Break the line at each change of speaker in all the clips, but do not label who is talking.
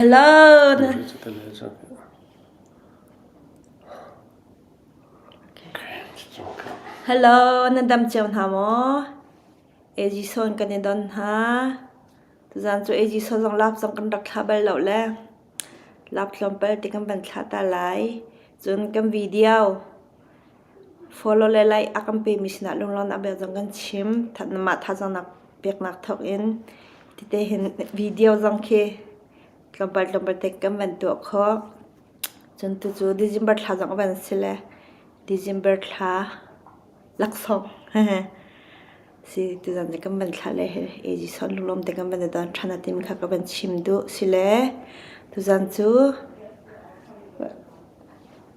Hello, na dam cio hna maw? Ejison kan i don hna. Tuzan cu Ejison zong lap zong kan rak thla bal lo le. Lap tlawmpal ti kan van thla ta lai. Cun kan video Fawlaw le laih a kan pemi sinah lunglawmnak a bia zong kan chim. Nangmah thazaang peknak thawkin tete hin video zong khi tlawmpal tlawmpal te kan van tuah khawh. Cun tucu December thla zong a van si le December thla laksawng si ti zong nih kan van thlah le hi Age Sawh lunglawm te kan van i ton ṭhan a timi kha ka van chim duh. Sile tuzan cu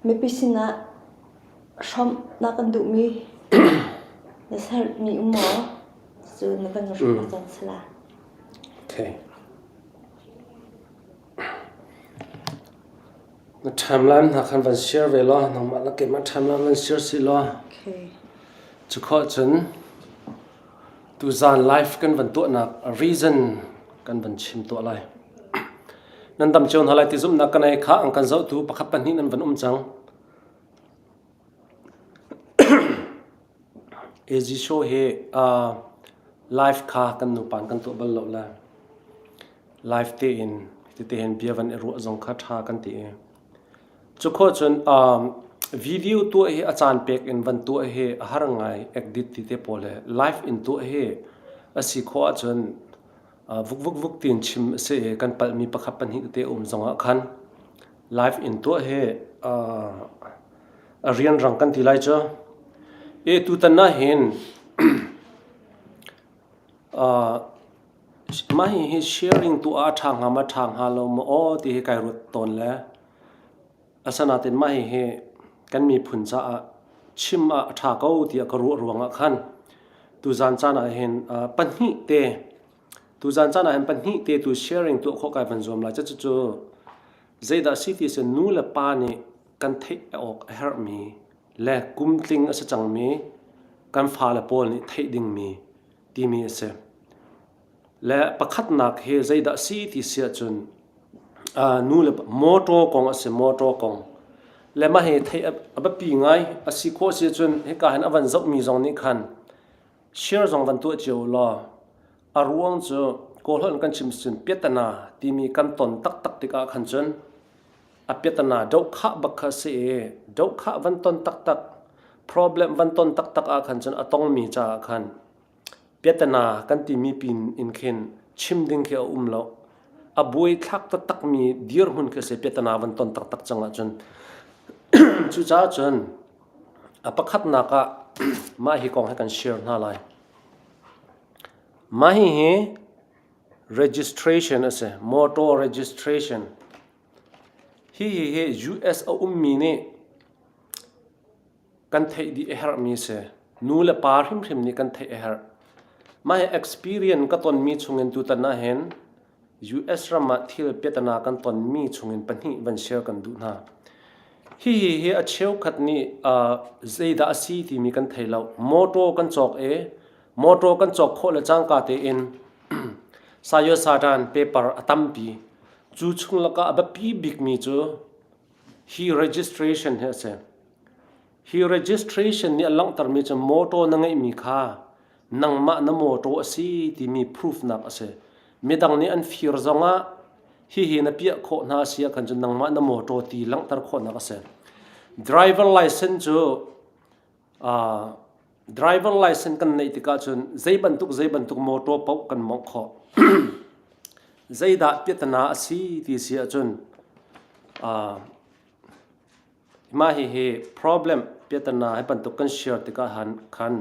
Mipi sinah hrawmhnak an duhmi na sermi um maw? Cu na kan hrawmh ko cang sala. Okay.
Na timeline hna khan van share ve law nangmah la keimah timeline van share si law. Okay.
Cu kho
cun Tuzaan live kan van tuahnak reason kan van chim tuah lai. Nan dam cio hna lai ti zumhnak kan ei kha an kan zohtu pakhat pahnih nan van um cang. AG show hi uh, live kha kan nupan kan tuah bal lo lai. Live te in tete hen bia van i ruah zong kha tha kan ti i. Cu khawh cun video tuah hi a caan pek in van tuah hi a har ngai. Edit ti te pawl le live in tuah hi a si khawh ahcun vukvukvuk tiin chim a si i kan palhmi pakhat pahnih te um zongah khan live in tuah hi a rianrang kan ti lai cu. Tutan ah hin Mah hihi sharing tuah ah a ṭha hnga maw, a ṭha hnga lo maw aw ti hi kai ruat tawn le asinain mah hihi kan miphun caah chim ah a ṭha ko tiah ka ruah ruangah khan tuzan caan ahhin pahnih te tuzan caan ahhin pahnih te tu sharing tuah khawh kai van zuam lai. Cucu zeidah a si ti ahcun nu le pa nih kan theih awk a herhmi le kum tling a si cangmi kan fale pawl nih theih dingmi timi a si. Le pakhatnak hi zeidah a si ti si ahcun uh, nu le motor kong a si motor kong le mah hi thei a biapi ngai a si khawh si ahcun hika hin a van zohmi zong nih khan share zong van tuah cio law a ruang cu kawlholh kan chim cun piatana timi kan ton taktak tikah khan cun a piatana dohkhah bak kha a si i dohkhah van ton taktak problem van ton taktak ah khan cun a tongmi caah khan piatana kan timi pin in khin chim ding khi a um lo a buai thlak taktakmi dirhmun khi se piatana van ton taktak cang ahcun cucaah cun a pakhatnak ah mah hi kong hi kan share hna lai mah hi hi registration a si motor registration Hihi US a ummi nih kan theih dih a herhmi a si. Nu le pa hrimhrim nih kan theih a herh. Mah hi experience ka tonmi chungin tutan ahhin US ram ah thil piatnak kan tonmi chungin pahnih van share kan duh hna. Hihi hi a cheukhat nih zeidah a si timi kan thei lo. Motor kan cawk i Motor kan cawk khawh le cangka tein Sayosartan paper a tampi. Cu chung lakah a biapi bikmi cu hi registration hi a si. Hi registration nih a langhtermi cu motor na ngeihmi kha nangmah na motor a si timi proofnak a si. Midang nih an fir zongah hihi na piah khawh hna a si ah khan cun nangmah na motor ti langhter khawhnak a si. Driver license cu Driver license kan neih tikah cun zei bantuk zei bantuk motor paoh kan mawngh khawh. Zeidah piatana a si ti si ahcun mah hihi problem piatana hi bantuk kan share tikah khan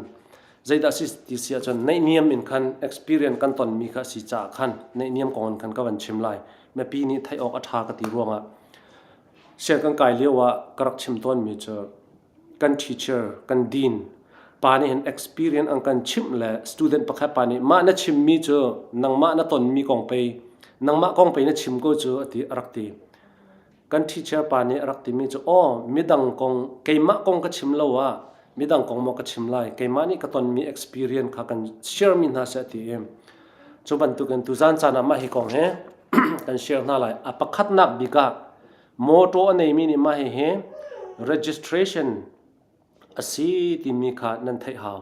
zeidah a si ti si ahcun neihniam in khan experience kan tonmi kha a si caah khan neihniam kong in khan ka van chim lai. Mipi nih theih awk a ṭha ka ti ruangah sian kan kai lio ah ka rak chim tawnmi cu kan teacher, kan dean, pa nih hin experience an kan chimh le student pakhat pa nih mah na chimmi cu nangmah na tonmi kong pei nangmah kong pei na chim ko cu a ti a rak ti. Kan teacher pa nih a rak timi cu aw midang kong keimah kong ka chim lo ah midang kong maw ka chim lai keimah nih ka tonmi experience kha kan sharemi hna seh ti i cu bantukin tuzan caan ah mah hi kong hi kan share hna lai a pakhatnak bik ah Mawṭaw a neimi nih mah hihi registration a si timi kha nan theih hau.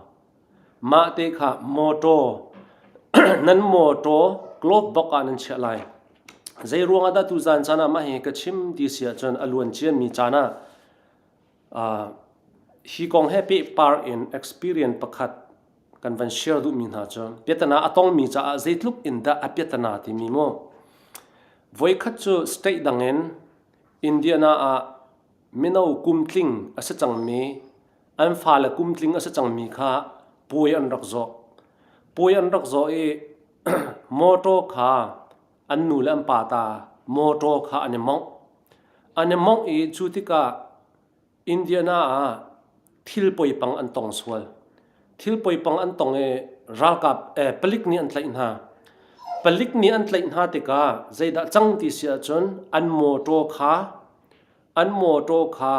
Mah te kha mawṭaw nan mawṭaw glove bak ah nan chiah lai. Zeiruang ah dah tu zan caan ah mah hihi ka chim ti a si ahcun a luan ciami caan ah Hi kong he pehpar in experience pakhat kan van share duhmi hna cu piatana a tongmi caah zeitluk in dah a piatana timi mu. Voikhat cu state dangin Indiana ah mino kum tling a si cangmi an fale kum tling a si cangmi kha puai an rak zawh. Puai an rak zawh i mawṭaw kha An nu le an pa ta mawṭaw kha an i mawngh. An i mawngh i cu tikah Indiana ah thil poipang an tong sual. Thil poipang an tong i ralkap eh, palik nih an tlaih hna. Palik nih an tlaih hna tikah zeidah cang ti si ahcun an mawṭaw kha an mawṭaw kha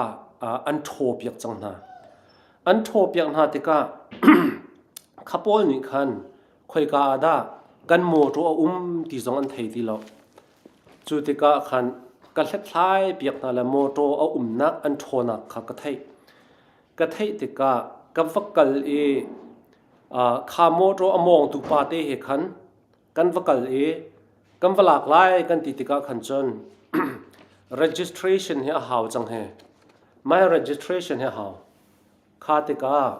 an ṭhawpiak cang hna. An ṭhawpiak hna tikah kha pawl nih khan khoika ah dah kan mawṭaw a um ti zong an thei ti lo. Cu tikah khan ka hlethlai piak hna le mawṭaw a umnak an ṭhawnnak kha ka theih. Ka theih tikah ka va kal i kha mawṭaw a mawngtu pate he khan kan va kal i kan va lak lai kan ti tikah khan cun registration hi a hau cang hi my registration hi a hau kha tikah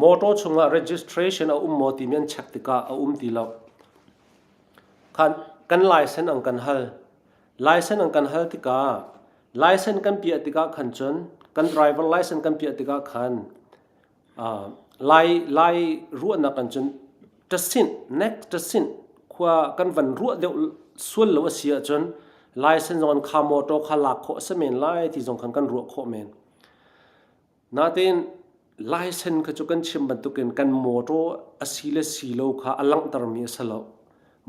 motor chungah registration a um maw ti men check tikah a um ti lo khan kan license ang kan hal license ang kan hal tikah license kan piah tikah khan cun kan driver license kan piah tikah khan Lai ruahnak ah cun ṭasinh, nek ṭasinh khua kan van ruah deuh sual lo a si ahcun license zong an kha motor kha lak khawh a si men lai ti zong khan kan ruah khawh men. Nain license kha cu kan chim bantukin kan motor a si le si lo kha a langhtermi a si lo.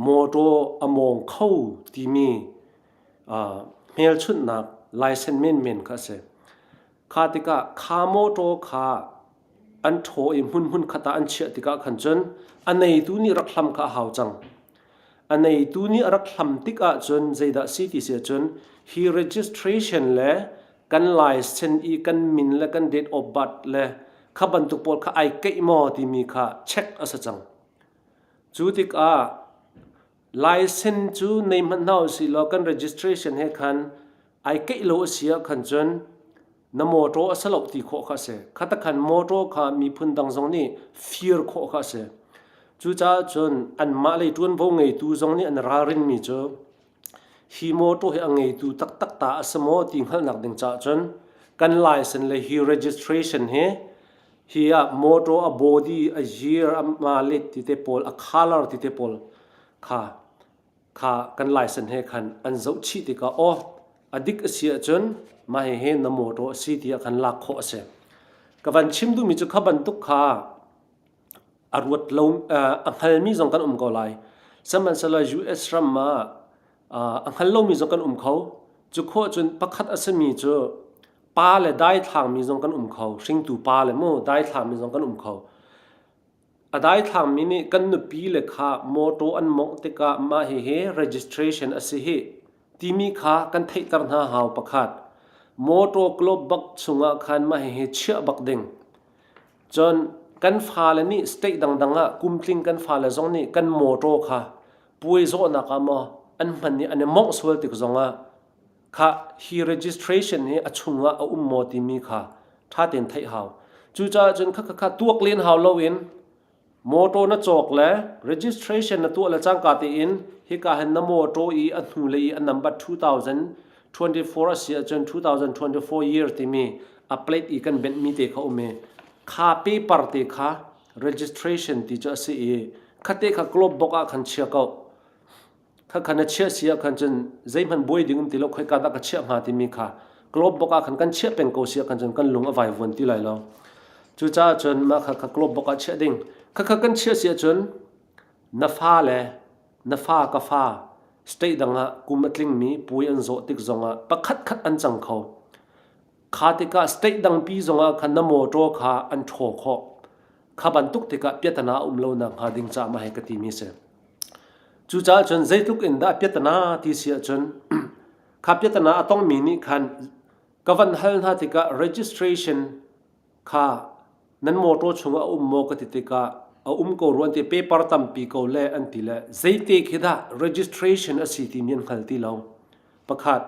Motor a mawng kho timi hmelchunhnak license menmen kha a si. Kha tikah kha motor kha an ṭhaw i hmunhmun khat ah an chiah tikah khan cun a neitu nih rak hlam kha a hau cang. A neitu nih a rak hlam tik ahcun zeidah si ti si ahcun hi registration le kan license i kan min le kan date of birth le kha bantuk pawl kha ai keih maw timi kha check a si cang. Cu tikah License cu nei hmanh hna u si law kan registration he khan ai keih lo a si ah khan cun na motor a si lo ti khawh kha a si. Khata khan motor kha miphun dang zong nih fir khawh kha a si. Cucaah cun anmah lei ṭuanvo ngeitu zong nih an ralrinmi cu hi motor hi a ngeitu taktak ta a si maw ti hngalhnak ding caah cun kan license le hi registration hi Hi ah motor a body a zir a malet ti te pawl a color ti te pawl kha kha kan license he khan an zoh chih tikah aw a dik a si ahcun mah hihi na motor a si tiah kan lak khawh a si. Ka van chim duhmi cu kha bantuk kha a ruat lo a hngalmi zong kan um ko lai. Sihmanhsehlaw US ram ah a hngal lomi zong kan um kho cu khawh cun pakhat a simi cu pa le daithlangmi zong kan um kho hringtu pa le mu daithlangmi zong kan um kho a daithlangmi nih kan nupi le kha mawtaw an mawngh tikah mah hihi registration a si hi timi kha kan theihter hna hau pakhat mawtaw club bak chungah khan mah hihi chiah bak ding cun kan fale nih state dangdang ah kumtling kan fale zong nih kan mawtaw kha puai zawhnak ah maw an hman i an i mawngh sual tik zongah kha hi registration hi a chungah a um maw timi kha ṭha tein theih hau cucaah cun kha kha tuak len hau loin motor na cawk le registration na tuah le cangka tein hika hin na motor i a hnu le i a number 2024 a si ahcun 2024 year timi a plate i kan benh mi te kha um i kha paper te kha registration ti cu a si i khate kha club bok ah khan chia ko kha khan a chiah si ah khan cun zeihman buai ding um ti lo khoi ka dah ka chiah hnga timi kha club bok ah khan kan chiah peng ko si ah khan cun kan lung a vai vuan ti lai lo cu ca cun ma kha kha club bok ah chiah ding kha kha kan chiah si ah cun na fa le na fa ka fa state dang ah kum a tling mi pui an zawh tik zong ah pakhat khat an cang kho Kha tikah state dangpi zongah khan na motor kha an ṭhaw khawh. Kha bantuk tikah piatana a um lo nakhnga ding caah mah hi ka timi a si. Cucaah cun zeitluk in dah piatana ti si ahcun kha piatana a tongmi nih khan ka van hal hna tikah registration Kha nan motor chung a um maw ka ti tikah a um ko rua ti paper tampi ko le an ti le zeite khi dah registration a si timi an hngal ti lo pakhat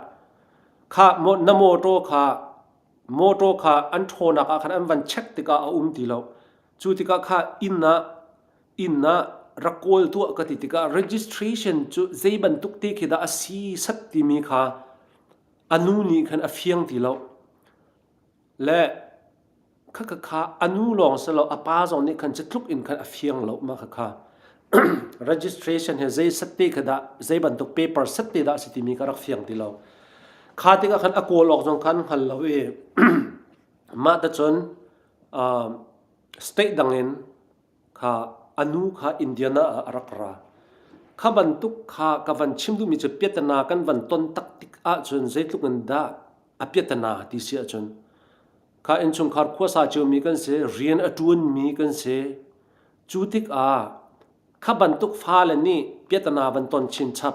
kha na motor kha motor kha an ṭhawnnak ah khan an van check tikah a um ti lo cu tikah kha inn ah inn ah rak kawl tuah ka ti tikah registration cu zei bantuk te khi dah a si sat timi kha a nu nih khan a fiang ti lo le khakhakha anu lawng si lo a pa zong nih khan cutluk in khan a fiang lo ma khakha registration he zei set te kha dah zei bantuk paper set te dah si timi ka rak fiang ti lo kha tikah khan a kawl awk zong khan hngal lo i mah ta cun state dangin kha anu kha indiana ah a rak ra kha bantuk kha ka van chim duhmi cu piatana kan van ton tak tik ahcun zeitluk in dah apiatana ti si ahcun kha innchungkhar khuasa ciomi kan si rian a ṭuanmi kan si cu tik ah kha bantuk fale nih piatana van ton chin chap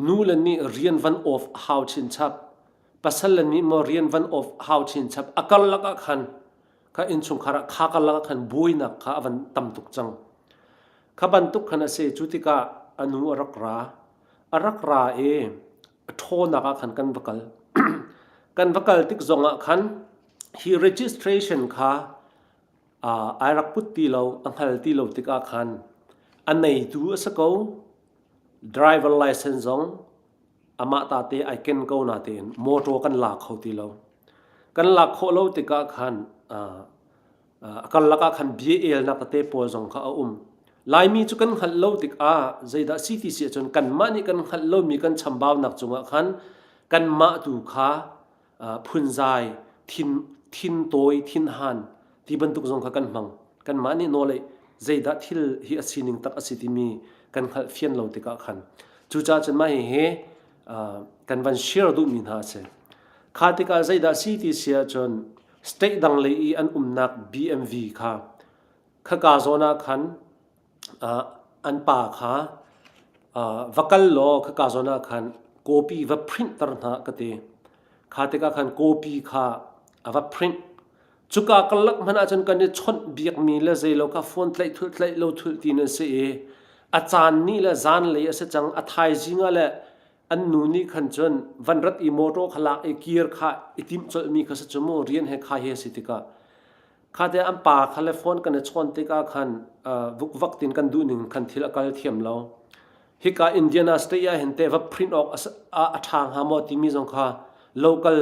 nu le nih rian van off a hau chin chap pasal le nih mo rian van off a hau chin chap a kar lakah khan kha innchungkhar ah kha kar lakah khan buainak kha a van tam tuk cang kha bantuk khan a se cu tikah a nu a rak ra a rak ra i a ṭhawnnak ah khan kan va kal. kan va kal tik zongah khan hi registration kha uh, ai rak put ti lo, a hngal ti lo tikah khan a neitu a si ko, driver license zong amah tate ai ken ko na tein motor kan la kho ti lo. kan lak khawh lo tikah khan uh, a karlak ah khan bia elnak tete pawl zong kha a um laimi cu kan hngalh lo tikah zeidah si ti si ahcun kanmah nih kan hngalh lomi kan chambaunak cungah khan kanmah tu kha phunzai thin thin tawi thin han ti bantuk zong kha kan hmang kanmah nih nawl ei zeidah thil hi a sining tak a si timi kan hngalh fian lo tikah khan cucaah cun mah hihi kan van share duhmi hna a si kha tikah zeidah si ti si ahcun state dang lei i an umnak BMV kha khaka zawn ah khan uh, an pa kha uh, va kal law khaka zawn ah khan copy va print tar hna ka te kha tikah khan copy kha a va print cuka kalak hman ahcun kan i chawnh biak mi le zeilo ka phone tlaih thul tlaih lo thul ti na si i a caan ni le zan lei a si cang a thaizing le an nu nih khan cun van rat i motor kha lak i gear kha i timh colhmi kha sa cu mu rian he kha hi a si tikah kha te an pa kha le phone kan i chawn tikah khan vukvak tin kan duh ning khan thil a kal thiam lo hika indiana state ah hin te va print awk a ṭha hnga maw timi zong kha local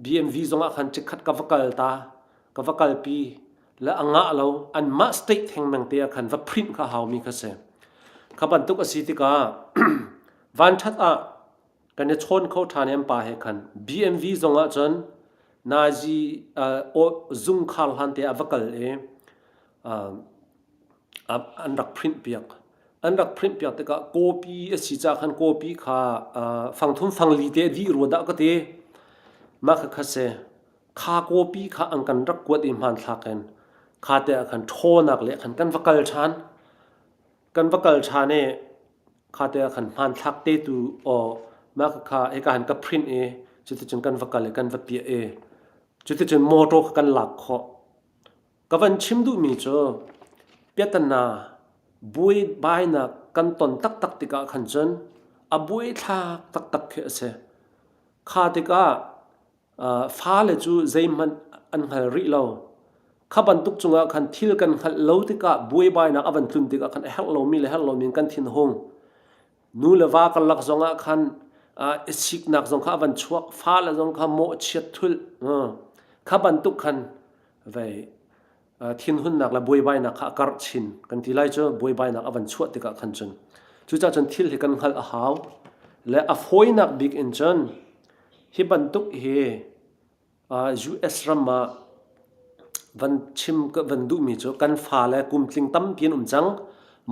BMV zong ah khan chikkhat ka va kal ta ka va kalpi le a ngah lo an mah state theng meng te ah khan va print kha haumi kha si kha bantuk a si tikah vanṭhat ah kan i chawn kho ṭhan em pa he khan BMV zong ah cun nazi uh, zung khar hlan te ah va kal e uh, an rak phrinhpiak. An rak phrinhpiak tikah kawpi a si ca khan kawpi kha fangthum fangli te dih rua dah ka ti. Mah kha kha si. Kha kawpi kha an kan rak kuat i hmanthlak in kha te ah khan ṭhaw-nak le khan kan va kal ṭhan. Kan va kal ṭhan i kha te ah khan hmanthlak te tu aw mah kha kha hika han ka print i cuticun kan va kal i kan va piah i cuticun motor kha kan lak khawh. Ka van chim duhmi cu piatana buaibainak kan ton taktak tikah khan cun a buaithlak taktak khi a si. Kha tikah fale cu zeihmanh an hngal rih lo. Kha bantuk cungah khan thil kan hngalh lo tikah buaibainak a van tlun tikah khan a herh lomi le herh lomi in kan thinhung. Nu le va karlak zongah khan i siknak zong kha a van chuak, fale zong kha mawhchiat thulh. Kha bantuk khan vei thinhunnak le buaibainak kha a karh chin kan ti lai cu buaibainak a van chuah tikah khan cun cucah cun thil hi kan hngalh a hau le a fawinak bik in cun hi bantuk hi US ram ah van chim van duhmi cu kan fa le kum tling tampi an um cang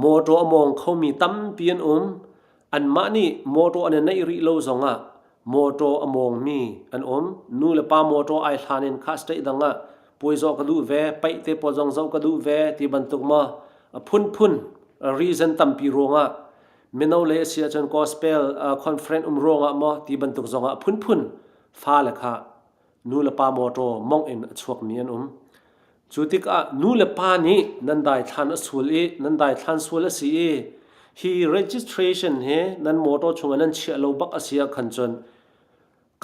mawṭaw a mawng khomi tampi an um Anmah nih mawṭaw an i neih rih lo zongah mawṭaw a mawngmi an um. Nu le pa mawṭaw ai hlan in kha state dang ah puai zoh ka duh ve, paih te pawl zong zoh ka duh ve ti bantuk maw a phunphun reason tampi ruangah mino le a si ahcun gospel uh, conference um ruangah maw ti bantuk zongah a phunphun fale kha Nu le pa mawṭaw mongh in a chuakmi an um. Cu tikah nu le pa nih nan daithlan a sul i nan daithlan sual a si i hi registration hi nan mawṭaw chungah nan chiah lo bak a si ah khan cun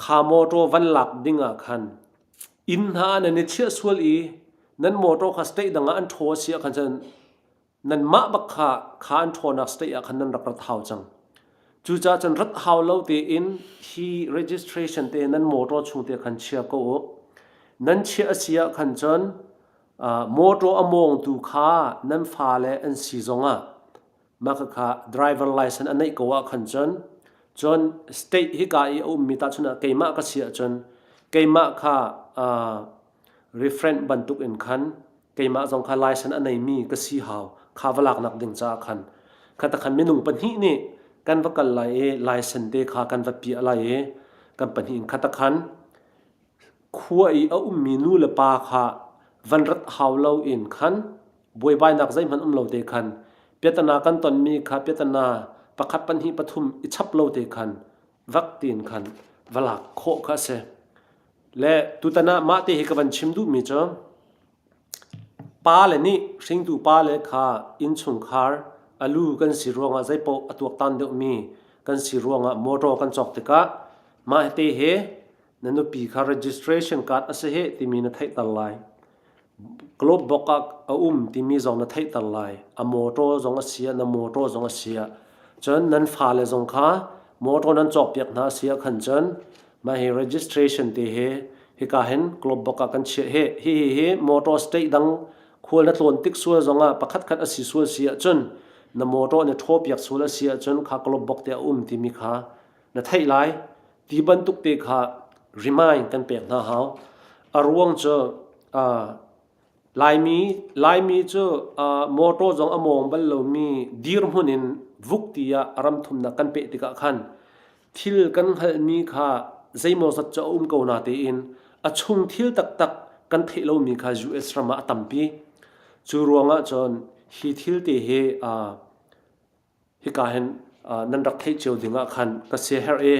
kha mawṭaw van lak ding ah khan inn hna ah nan i chiah sual i nan mawṭaw kha state dang ah an ṭhaw a si ah khan cun nanmah bak kha kha an ṭhawnnak state ah khan nan rak rat hau cang. Cucaah cun rat hau lo tein hi registration te nan motor chung te khan chia ko u. Nan chia a si ah khan cun uh, motor a mawngtu kha nan fale an si zongah maka kha driver license an neih ko ah khan cun cun state hi ka i a ummi ta chun ah keimah ka si ah cun keimah kha uh, referent bantuk in khan keimah zong kha laisan a neimi ka si hau kha va laknak ding caah khan khata khan minung pahnih nih kan va kal lai i laisan te kha kan va piah lai i kan pahnih in khata khan khua i a ummi nu le pa kha van rat hau lo in khan buaibainak zeihmanh um lo te khan piatana kan tonmi kha piatana pakhat pahnih pathum i chap lo te khan vak tiin khan va lak khawh kha a si. Le tutan ah mah te hi ka van chim duhmi cu pa le nih hringtu pa le kha innchungkhar a lu kan si ruangah zeipaoh a tuaktan deuhmi kan si ruangah motor kan cawk tikah mah te hi na nupi kha registration card a si hih timi na theihter lai. Club bok ah a um timi zong na theihter lai. A mawṭaw zong a siah na mawṭaw zong a siah cun nan fale zong kha mawṭaw nan cawkpiak hna a si ahkhan cun mah hi registration te hi hika hin club bok ah kan chiah hih. Hihi hi mawṭaw state dang khual na tlawn tik sual zong ah pakhatkhat a si sual si ahcun na mawṭaw na ṭhawpiak sual a si ahcun kha club bok te a um timi kha na theih lai. Ti bantuk te kha remind kan pek hna hau. A ruang cu uh, Laimi Laimi cu uh, motor zong a mawng bal lomi dirhmun in vuk ti ah ram thumnak kan peh tikah khan thil kan hngalhmi kha zeimaw zat cu a um ko na tein a chung thil taktak kan theih lomi kha US ram ah a tampi. Cu ruangah cun hi thil te hi uh, hika hin nan rak theih cio ding ah khan ka siaherh i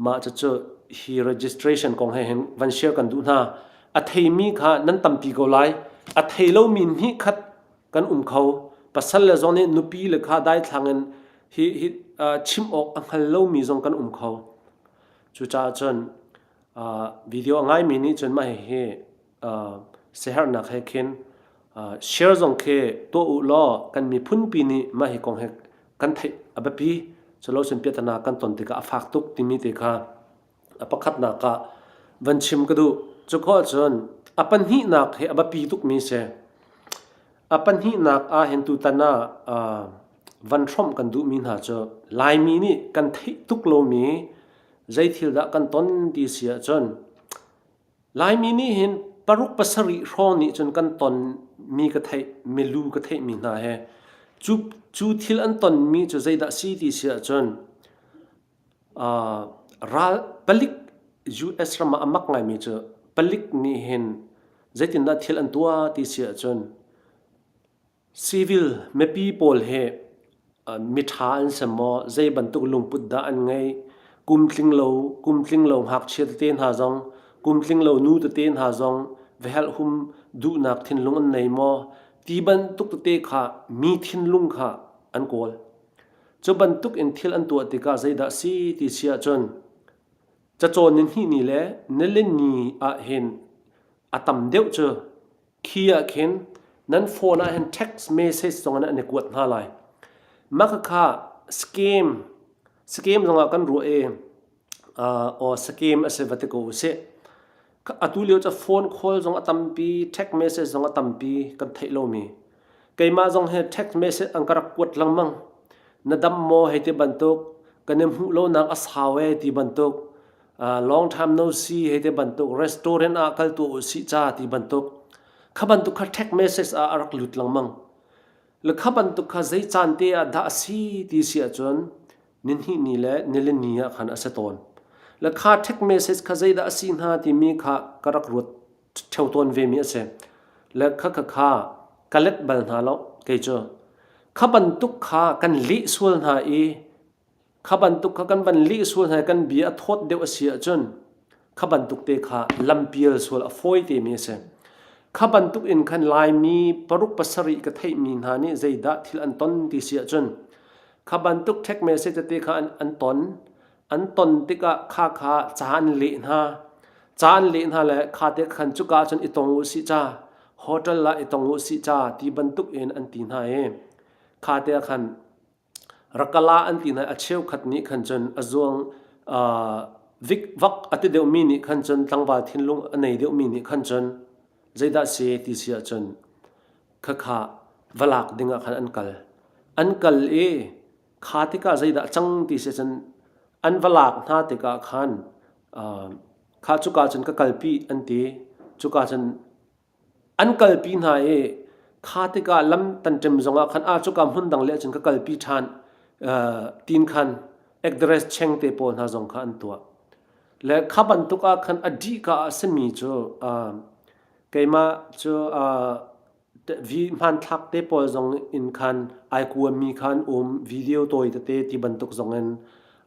mah cucu hi registration kong he hin van share kan duh hna a theimi kha nan tampi ko lai a thei lomi nih khat kan um kho pasal le zong nih nupi le kha daithlang in hi hi chim awk a hngal lomi zong kan um kho cucaah cun video a ngaimi nih cun mah hi Siaherhnak he khin share zong khi tuah u law kan miphunpi nih mah hi kong hi kan theih a biapi. Culo cun piahtana kan ton tikah a fak tuk timi te kha a pakhatnak ah van chim ka duh. Cuka ahcun a pahnihnak hi a biapi tukmi si. A pahnihnak ah hin tutan ah van hrawmh kan duhmi hna cu Laimi nih kan theih tuk lomi zei thil dah kan ton ti si ahcun Laimi nih hin paruk pasarih hrawng nih cun kan tonmi ka theih, milu ka theihmi hna hi cu, cu thil an tonmi cu zeidah si ti si ahcun ral palik US ram ah a mak ngaimi cu palik nih hin zeitindah thil an tuah ti si ahcun Civil mipi pawl hi miṭha an si maw? Zei bantuk lungput dah an ngeih? Kum tlinglo, kum tlinglo ngakchia tete hna zong, kum tlinglo nu tete hna zong vihelhhum duhnak thinlung an nei maw? Ti bantuk tete kha mi thinlung kha an kawl. Cu bantuk in thil an tuah tikah zeidah a si ti si ahcun cacawn ni hnih ni le nilen ni ah hin a tam deuh cu khi ah khin nan phone ah hin text message zong in an i kuat hna lai mah khakha scam scam zong ah kan ruah i or scam a si va ti ko sih atu lio cu phone call zong a tampi text message zong a tampi kan theih lomi keimah zong hi text message an ka rak kuat lengmang na dam maw hei ti bantuk kan i hmuh lonak a sau e ti bantuk longtime no see hei ti bantuk restaurant ah kal tu usih ca ti bantuk kha bantuk kha text message ah a rak lut lengmang le kha bantuk kha zei caan te ah dah a si ti si ahcun ninhnih ni le nilin ni ah khan a si tawn le kha text message kha zeidah a si hna timi kha ka rak ruat theo tawn ve mi a si le kha kha kha ka let bal hna lo kei cu kha bantuk kha kan lih sual hna i Kha bantuk kha kan van lih sual hna i kan bia a thawt deuh a si ahcun kha bantuk te kha lampial sual a fawi temi a si. Kha bantuk in khan Laimi paruk pasarih ka theihmi hna nih zeidah thil an ton ti si ahcun kha bantuk ṭhek message tete kha an, an ton. An ton tikah kha kha ca an leh hna. Ca an leh hna le kha te khan cuka ahcun i tong u sih ca, hotel ah i tong u sih ca ti bantuk in an ti hna i kha te ah khan Rak kal ah an ti hna. A cheukhat nih khan cun a zuang vak a ti deuhmi nih khan cun tlangval thinlung a nei deuhmi nih khan cun zeidah si ti si ahcun khakha va lak dingah khan an kal. An kal i kha tikah zeidah a cang ti si ahcun an va lak hna tikah khan kha cuka cun ka kalpi an ti. Cuka cun an kalpi hna i kha tikah lam tan ṭem zongah khan a cuka hmun dang leh cun ka kalpi ṭhan tin khan ekdares cheng te pawl hna zong kha an tuah le kha bantuk ah khan a dih ka a simi cu keimah cu vi hmanthlak te pawl zong in khan ai kuammi khan um video tawi tete ti bantuk zong in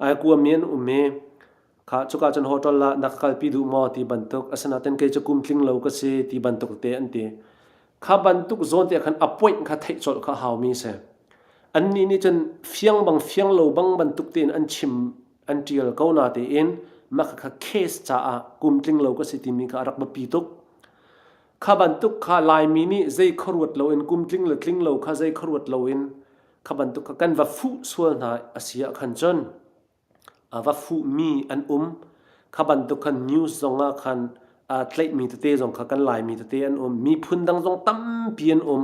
ai kuami an um i Kha cuka cun hoṭol ah na kalpi duh maw ti bantuk asinain kei cu kum tling lo ka si ti bantuk te an ti. Kha bantuk zawn tiah khan appoint kha theih colh kha haumi si. Annih nih cun fiang bang fiang lo bang bantuk tein an chim an ṭial ko na tein maka kha case caah kum tling lo ka si timi kha a rak biapi tuk. Kha bantuk kha Laimi nih zei khuaruat loin kum tling le tling lo kha zei khuaruat loin kha bantuk kha kan va fuh sual hna a si ah khan cun A va fuhmi an um. Kha bantuk khan news zong ah khan aa tlaihmi tete zong kha kan Laimi tete an um. Miphun dang zong tampi an um.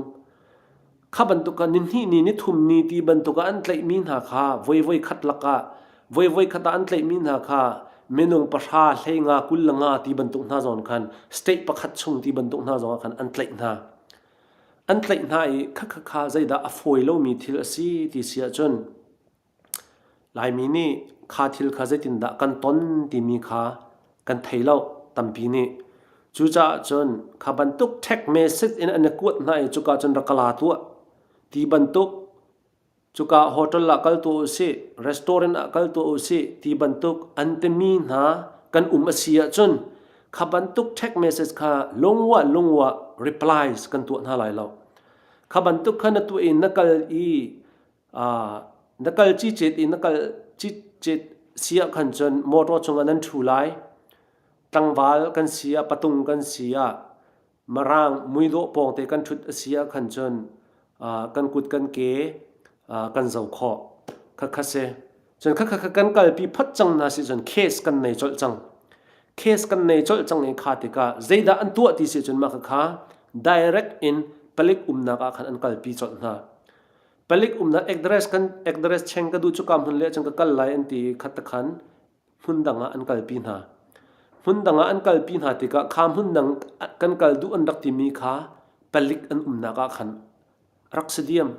Kha bantuk khan nihnih ni, nithum ni ti bantuk ah an tlaihmi hna kha voivoi khat lakah, voivoi khat ah an tlaihmi hna kha minung pahra, hleinga, kullanga ti bantuk hna zong khan state pakhat chung ti bantuk hna zong ah khan an tlaih hna. An tlaih hna i kha kha kha zeidah a fawi lomi thil a si ti si ahcun Laimi nih kha thil kha zeitindah kan ton timi kha kan thei lo tampi nih. Cucaah cun kha bantuk ṭhek message in an i kuat hna i cuka cun rak ka la tuah ti bantuk. Cuka hotel ah kal tuah usih, restaurant ah kal tuah usih ti bantuk an timi hna kan um a si ahcun kha bantuk ṭhek message kha lungwah lungwah replies kan tuah hna lai lo. Kha bantuk kha na tuah i na kal i na kal cicet i na kal cicet si ah khan cun motor cungah nan ṭhu lai. Tlangval kan si ah, patung kan si ah, marang muidawh pawngte kan ṭhut a si ah khan cun kan kut kan ke kan zo khawh khatkhat si. Cun khatkhat kha kan kalpi phot cang hna si cun case kan nei colh cang. Case kan nei colh cang i kha tikah zeidah an tuah ti si cun mah khakha direct in palik umnak ah khan an kalpi colh hna. Palik umnak address kan address cheng ka duh cu ka hmun le cun ka kal lai an ti i khat takhan hmun dang ah an kalpi hna. Hmun dang ah an kalpi hna tikah kha hmun dang kan kal duh an rak timi kha palik an umnak ah khan rak si diam.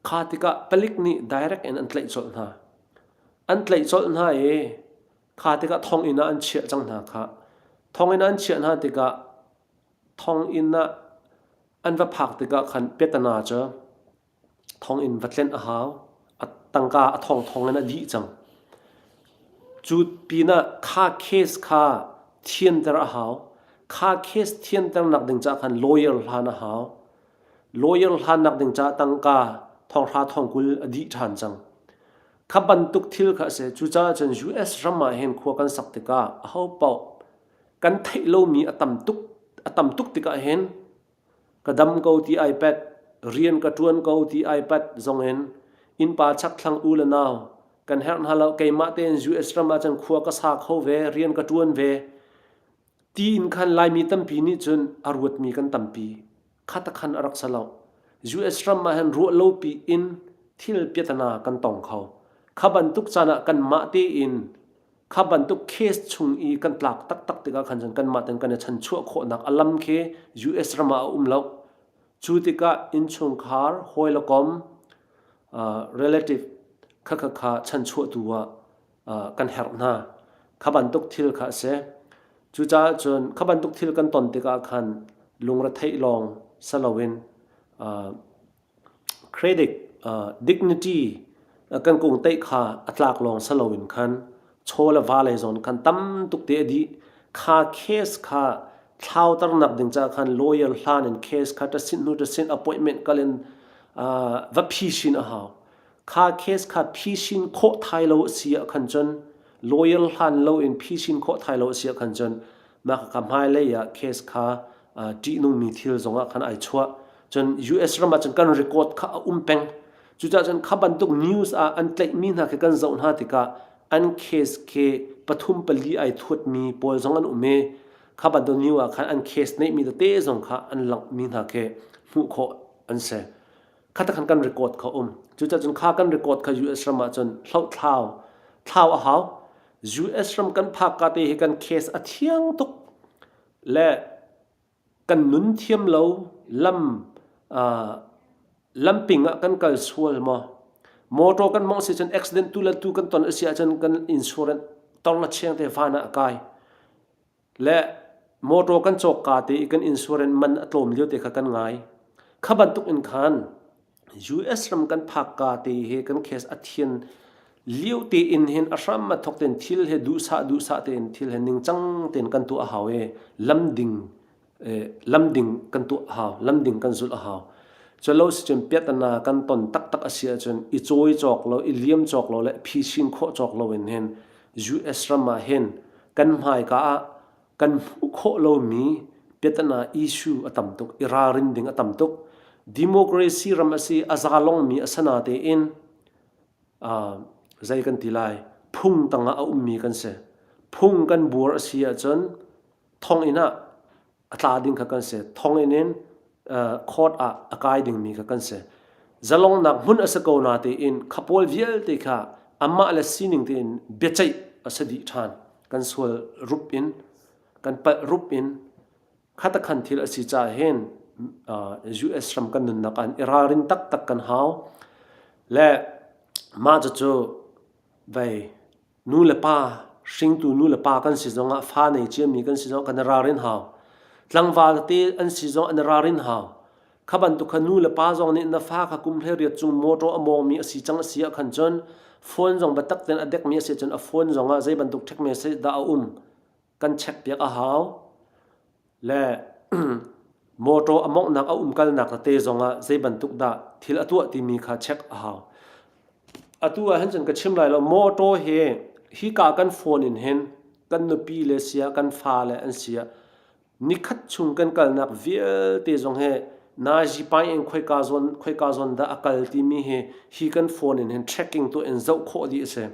Kha tikah palik nih direct in an tlaih colh hna. An tlaih colh hna i kha tikah thonginn ah an chiah cang hna kha. Thonginn ah an chiah hna tikah thonginn ah An va phak tikah khan Petana cu thonginn va tlenh a hau. A tangka a thong thong in a dih cang. Cu pinah kha case kha thianter a hau. Kha case thianternak ding caah khan lawyer hlan a hau. Lawyer hlannak ding caah tangka thonghra thong kul a dih ṭhan cang. Kha bantuk thil kha a si. Cucaah cun US ram ah hin khua kan sak tikah ahopaoh kan theih lomi a tam tuk a tam tuk tikah hin ka dam ko ti iPad rian ka ṭuan ko ti iPad zong in innpa chakthlang u le nau kan herh hna lo keimah tein US ram ah cun khua ka sa kho ve rian ka ṭuan ve ti in khan Laimi tampi nih cun a ruatmi kan tampi khatakhan a rak si lo. US ram ah hin ruah lopi in thil piatana kan tong kho. Kha bantuk caan ah kanmah tein kha bantuk case chung i kan tlak taktak tikah khan cun kanmah ten kan i chanchuah khawhnak a lam khi US ram ah a um lo. Cu tikah innchungkhar hawi le kom uh, relative kha kha kha chanchuah tu ah kan herh hna. Kha bantuk thil kha a si. Cucaah cun kha bantuk thil kan ton tikah khan lungretheih lawng si loin credit, dignity kan kung teih kha a tlak lawng si loin khan chaw le va lei zawn khan tam tuk te a dih. Kha case kha thlauternak ding caah khan lawyer hlan in case kha ṭasit hnu ṭasit appointment kal in va phi chin a hau. kha case kha phisin khawh thai lo si ah khan cun lawyer hlan lo in phisin khawh thai lo si ah khan cun mah ka hmai lei ah case kha ti nung mi thil zong ah khan ai chuah cun US ram ah cun kan record kha a um peng cucah cun kha bantuk news ah an tlaih mi hna khi kan zoh hna tikah an case ke pathum pali ai thuat mi pawl zong an um e kha bantuk new ah khan an case nei mi tete zong kha an langh mi hna ke hmuh khawh an se khata khan kan record kha um cuca cun kha kan record kha US ram ah cun hloh thlau thlau a hau US ram kan phak ka te hi kan case a thiang tuk le kan nun thiam lo lam uh, lamping ah kan kal sual mo motor kan mong si cun accident tu la tu kan ton asi a cun kan insurance tong la cheng te fa na kai le motor kan cawk ka te i kan insurance man a tlawm lio te kha kan ngai kha bantuk in khan US ram kan phak ka te he kan case a thian liu te in hin a hram ma thok ten thil he duhsah duhsah ten thil he ningcang ten kan tu a hau e lamding lamding kan tu a hau lamding kan zul a hau chalo si cun piatana kan ton taktak asia cun i cawi cawk lo i liam cawk lo le phi sin khawh cawk lo in hin US ram ah hin kan hmaika ah kan hmuh khawh lomi piatana issue a tam tuk i ralrin ding a tam tuk. Democracy ram a si, a zalongmi a sana tein zei kan ti lai, phung tangah a ummi kan si. Phung kan buar a si ahcun thonginn ah a tla ding kha kan si thong in in court ah a kai dingmi kha kan si zalongnak hmun a si ko na tein khapawl vialte kha amah le sining tein biaceih a si dih ṭhan kan sual rup in kan palh rup in khatakhan thil a si ca hen US ram kan nunnak an i ralrin taktak kan hau le mah cu vei Nu le pa, hringtu nu le pa kan si zong ah fa nei ciami kan si zong kan i ralrin hau. Tlangval tete an si zong an i ralrin hau. Kha bantuk kha nu le pa zong nih na fa kha kum hlei riat cung mawṭaw a mawngmi a si cang a si ah khan cun phone zong biatak tein a dekmi a si cun a phone zong ah zei bantuk ṭhekme seh dah a um kan chekpiak a hau. Le motor a monghnak a umkalnak na te zongah zeibantuk dah thil a tuah timi kha check a hau. Atu ahhin cun ka chim lai lo motor hi hika kan phone in hin kan nupi le sia kan fa le an sia nikhat chung kan kalnak vialte zong hi nai zipai in khoika zawn khoika zawn dah a kal timi hi hi kan phone in hin tracking tu in zoh khawh dih a si.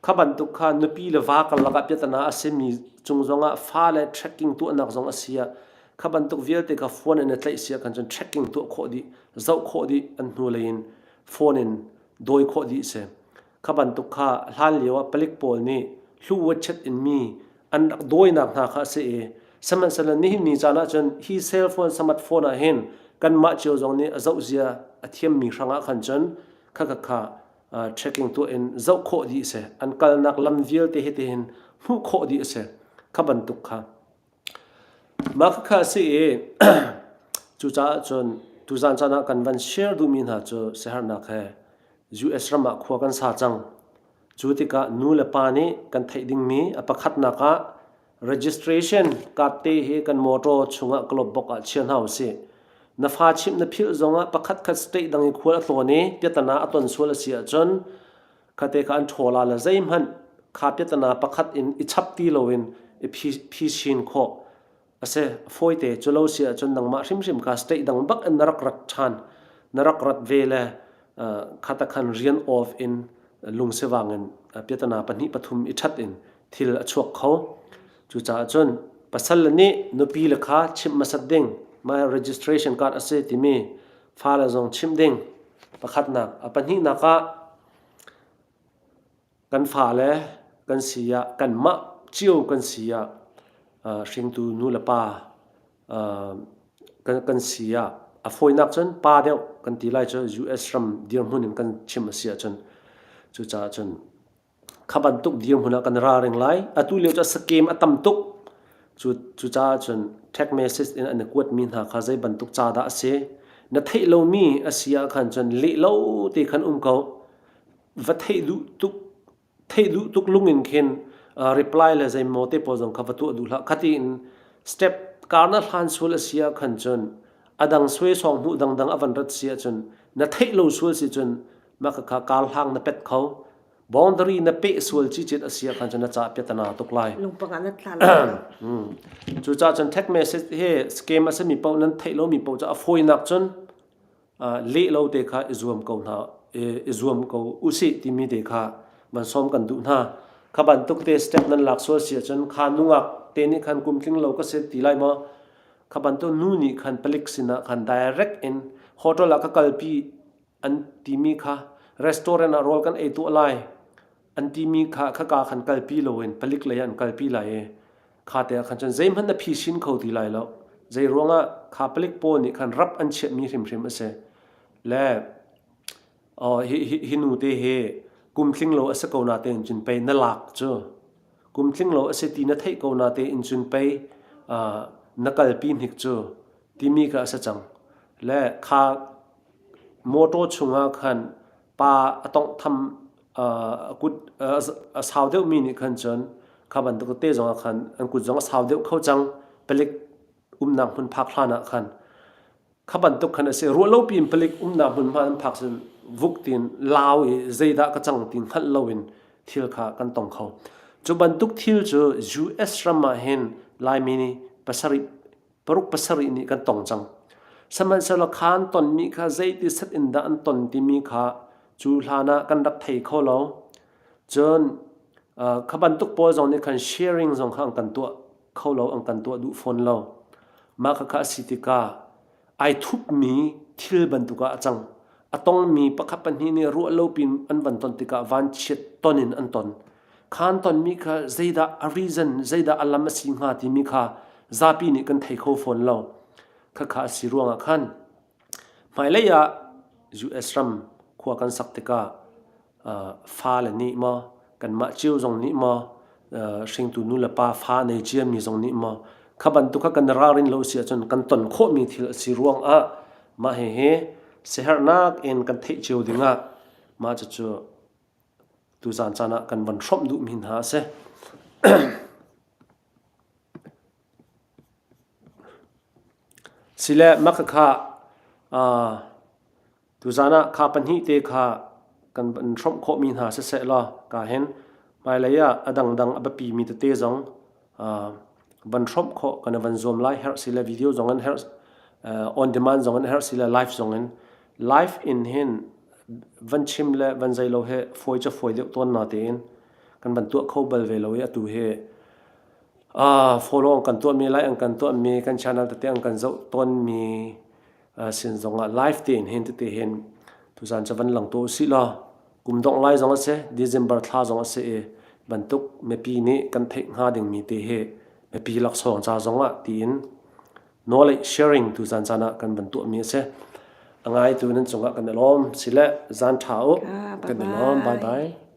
Kha bantuk kha nupi le va karlak ah piatana a simi cung zongah fale trekking tuahnak zong a si ah kha bantuk vialte kha phone in a tlaih si ahkhan cun trekking tuah khawh dih, zoh khawh dih an hnulei in phone in dawi khawh dih si. Kha bantuk kha hlan lio ah palik pawl nih hlu wachet inmi an rak dawinak hna kha a si i sihmanhsehlaw nihin ni caan ahcun hi cellphone smartphone ah hin kanmah cio zong nih a zohzia a thiammi hrangah khan cun kha kha kha trekking tuah in zoh khawh dih a si. An kalnak lam vialte hi tihin hmuh khawh dih a si. Kha bantuk kha. Mah khakha a si i cucaah cun tuzaan caan ah kan van share duhmi hna cu siaherhnak he US ram ah khua kan sa cang. Cu tikah nu le pa nih kan theih dingmi a pakhatnak ah Registration card te hi kan motor chungah ka lawmh bok ah chia hna usih. Na fa chimh na philh zongah pakhat khat state dang i khual a tlawn i piatana a ton sual a si ahcun khate kha an ṭhola le zeihmanh kha piatana pakhat in i chap ti loin i phi, phi chin khawh a si. Fawite cu lo si ahcun nangmah hrimhrim kha state dang bak in na rak rat ṭhan. Na rak rat ve le uh, khata khan rian off in lungsivang in uh, piatana pahnih pathum i ṭhat in thil a chuak kho. Cucaah cun pasal le nih nupi le kha chimh hmasat ding my registration card a si timi fale zong chimh ding pakhatnak a pahnihnak ah kan fale kan si ah kanmah cio kan si ah uh, hringtu nu le pa uh, kan kan si ah a fawinak cun pa deuh kan ti lai cu US ram dirhmun in kan chim a si ahcun cucaah cun kha bantuk dirhmun ah kan ralring lai. Atu lio cu a scam a tam tuk. Cu, cucaah cun text message in an i kuatmi hna kha zei bantuk ca dah a si, na theih lomi a si ahkhan cun leh lo te khan um ko. Va theih duh tuk, theih duh tuk lung in khin reply le zeimaw te pawl zong kha va tuah duh hlah. Khatiin step car na hlan sual a si ahkhan cun a dang suai sawng hmuh dangdang a van rat si ahcun na theih lo sual si cun mah ka kha kar hlang na pet kho boundary na pe sual chi chet asia khan chun na cha pia tana tuk lai lungpanga na tla
hmm. cu
cha chun text message he scam asami po nan thei lo mi po cha afoi nak chun le lo te kha izuam ko na izuam ko usi timi de kha man som kan du na kha ban tuk te step nan lak sual sia chun kha nungak te ni khan kum tling lo ka se ti lai mo kha ban to nu ni khan palik sina khan direct in hotel ka kalpi an timi kha restaurant ah rawl kan ei tuah lai an timi kha khaka khan kalpi lo in palik lei an kalpi lai i kha te ah khan cun zeihmanh na phi sin kho ti lai lo zei ruangah kha palik pawl nih khan rap an chiahmi hrimhrim a si le hi nu te hi kum tling lo a si ko na te in cun pei na lak cu kum tling lo a si ti na theih ko na te in cun pei na kalpi hnik cu timi ka a si cang le kha Mawṭaw chungah khan pa a tawnghtham a sau deuhmi nih khan cun kha bantuk tete zongah khan an kut zong a sau deuh kho cang, palik umnak hmun phak hlanah khan. Kha bantuk khan a si. Ruah lopi in palik umnak hmunhma an phak cun vuk tiin lau i zeidah ka cang ti hngalh loin thil kha kan tong kho. Cu bantuk thil cu US ram ah hin Laimi nih pasarih paruk pasarih nih kan tong cang. Sihmanhsehlaw khaan tonmi kha zeiti set in dah an ton timi kha cu hlan ah kan rak thei kho lo. Cun uh, kha bantuk pawl zong nih khan sharing zong kha an kan tuah kho lo, an kan tuah duh fawn lo. Mah kha kha a si tikah ai thupmi thil bantuk ah a cang. A tongmi pakhat pahnih nih ruah lo pin an van ton tikah vanchiat ton in an ton. Khaan tonmi kha zeidah a reason, zeidah a lam a si hnga timi kha zapi nih kan thei kho fawn lo. Khakha a si ruangah khan hmailei ah US ram khua kan sak tikah uh, fale nih maw kanmah cio zong nih maw uh, hringtu nu le pa fa nei ciami zong nih maw kha bantuk kha kan ralrin lo si ahcun kan ton khawhmi thil a si ruangah mah hihi siherhnak in kan theih cio dingah mah cucu Tuzaan caan ah kan van hrawmh duhmi hna a si. Sile maka kha uh, tuzaan ah kha pahnih te kha kan van hrawmh khawhmi hna siseh law ka hin hmailei ah a dangdang a biapimi tete zong van hrawmh khawh kan i van zuam lai herh si le video zong in herh on demand zong in herh si le live zong in live in hin van chim le van zei lo he fawi cu fawi deuh tawn na tein kan van tuah kho bal ve lo i atu hi follow kan tuah mi like an kan tuah mi kan channel tete an kan zoh tawn mi sin zongah live tein hen tete hen tuzan cha van lang to si la kum dong lai zong ase December thla zong ase e bantuk mepi nih kan theih nga ding mi te he mepi lak song cha zongah tiin knowledge sharing tu zan chana kan ban tu mi ase angai tu nan chungah kan alom sile zan tha u kan alom bye bye